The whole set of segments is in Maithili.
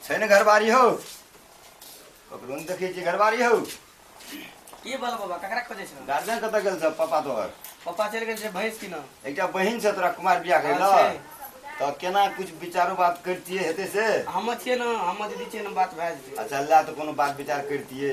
छै ने घरबारी हौ ककरो नहि देखै छियै घरबारी हौ की बोल बाबा ककरा खोजै छौ गार्जियन कतऽ गेल छ पापा तोहर पप्पा चलि गेल छै भैंस किनऽ एकटा बहिन छै तोरा कुमार बियाह करै हँ, लए छै। तऽ केना कुछ विचारो बात करितियै हेतै से हम छियै ने हम दीदी छियै ने बात भए जेतै अच्छा लए तऽ कोनो बात विचार करितियै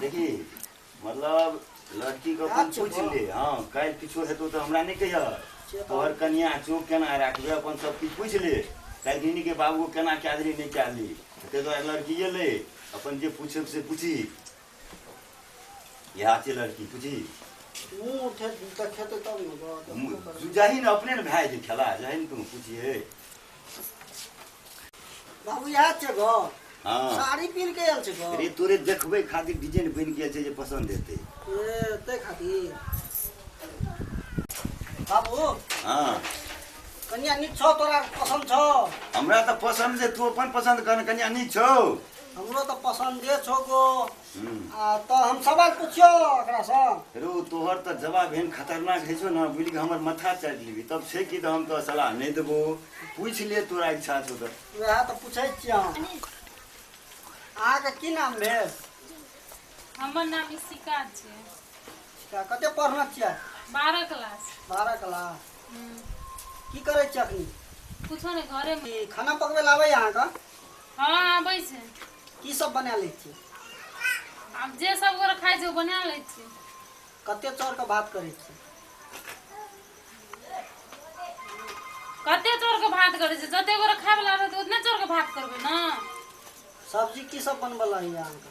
देखी मतलब लड़की के अपन पूछ ले हाँ काल्हि किछो हेतौ तऽ हमरा नहि कहिया तोहर कनिया चोक केना राखबे अपन सब किछु पूछ ले काल्हि दिनी के बाबू केना कए देली नहि कए देली ताहि दुआरे लड़किए ले अपन जे पूछब से पूछी इएह छै लड़की बुझी मुँह खे- देखेतै तब ने गप। मु- जहिन अपने ने भए जेतै खेला जहिन तू पुछिए बाबू इएह छै घर हँ साड़ी पीन के आयल छै घर रे तोरे देखबै खातिर डिजाइन बनि गेल छै जे पसन्द हेतै ए, ताहि खातिर बाबू हँ कनिया नीक छौ तोरा पसन्द छौ हमरा तऽ पसन्द छै तू अपन पसन्द कर कनिया नीक छौ हमरो तऽ पसन्दे छौ गो आ तऽ हम सवाल पूछियो एकरा से रो तोहर तऽ जवाब एहन खतरनाक है छौ ना बुझ के हमर माथा चाटि लेबी तब छै कि तऽ हम तो सलाह नहीं देबो पूछ ले तोरा इच्छा छौ तऽ वएह तऽ पूछै छियै हम अहाँके की नाम भेल हमर नाम इशिका छै कते पढ़ना छियै बारह क्लास बारह क्लास की करै छियै अखनी कुछो नहि घरे खाना पकबै लए आबै अहाँके हँ आबै छै की सब बना लै छी आब जे सब गोरे खाइ छै ओ बना लै छियै कते चाउर के भात करै छी कते चाउर के भात करै छै जते गोरे खाय बला रहतै ओतने चाउर के भात करबै ने सब्जी की सब बनबऽ लऽ होइए अहाँके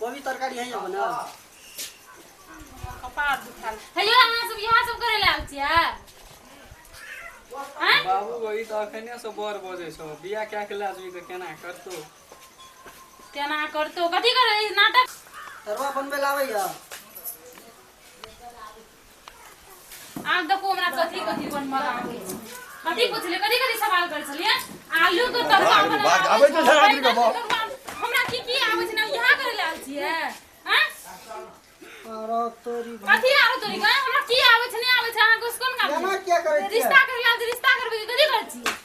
कोबी तरकारी है यहाँ ना कपार दुखाल हेलो अहाँ सब यहाँ सब करे लाल छिया हैं बाबू वही तो अखने से बर बजे छो बिया क्या के लाजमी तो केना करतो केना करतो कथी करे ई नाटक तरुआ बनबे लावे या आब देखो हमरा कथी कथी बनबा आबै छै कथी पूछले कथी कथी सवाल कर छलिए आलू के तड़का बाप रे बना बाप, आबै छै धरा धरी के बाप। हमरा की की आबै छै ना यहाँ करे लाल छिए हां आरो तोरी भाई कथी आरो तोरी का हमरा की आबै छै नहीं आबै छै अहाँ कुछ कोन काम एना छै? किया करै छियै रिश्ता करे लाल छी, रिश्ता करबे के कथी कर छी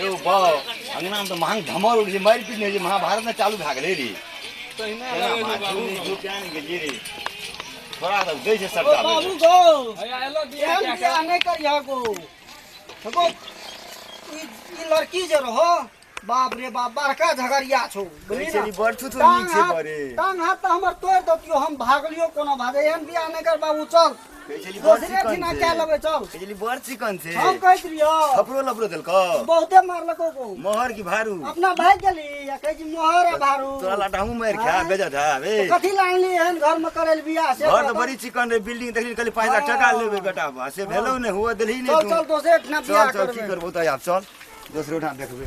यौ बाउ अंगनामे तऽ महंग धमर उठै छै मारि पीट नहि होइ छै महाभारत ने चालू भए गेलै रे तहिना केना लगै छै मारि बाबू। पीट जो किया नहि गेलियै रे थोड़ा सब दै छै सरकार रे। बाबू गो हैया एलो बिया एहन कए बियाह कऽ। नहि करिह गो गो ई ई लड़की जे रहो बाप रे बाप बड़का झगड़िया छौ बुझली कहै छै ने ई बड़ थुथुर टांग नीक छै हाथ- बड़े। टांग हाथ तऽ हमर तोड़ देतियो हम भागलियो कोनो भागे एहन बियाह नहि कर बाबू चल बिजली बड़ दोसरे चिकन दिना छै। क्या लेबै चल बिजली बड़ चिकन छै हम कहैत रहियो खपरो लपरो देलको बहुते मारलको को मोहर की भारू अपना भाग गेली आ कहै छी मोहर आ भारू तोरा लाटा हमहूँ मारि खा बेजा था बे तो कथी ला अनली एहन घर में करैल बियाह से घर तऽ बड़ी चिकन रहै बिल्डिंग देखली कहली पाँच लाख टाका लेबै बेटा बा से भेलौ ने हुआ देलही चल ने चल तू दोसरे ठिना बियाह चल चल की करबै करबो तऽ आब चल दोसरो ठाम देखबै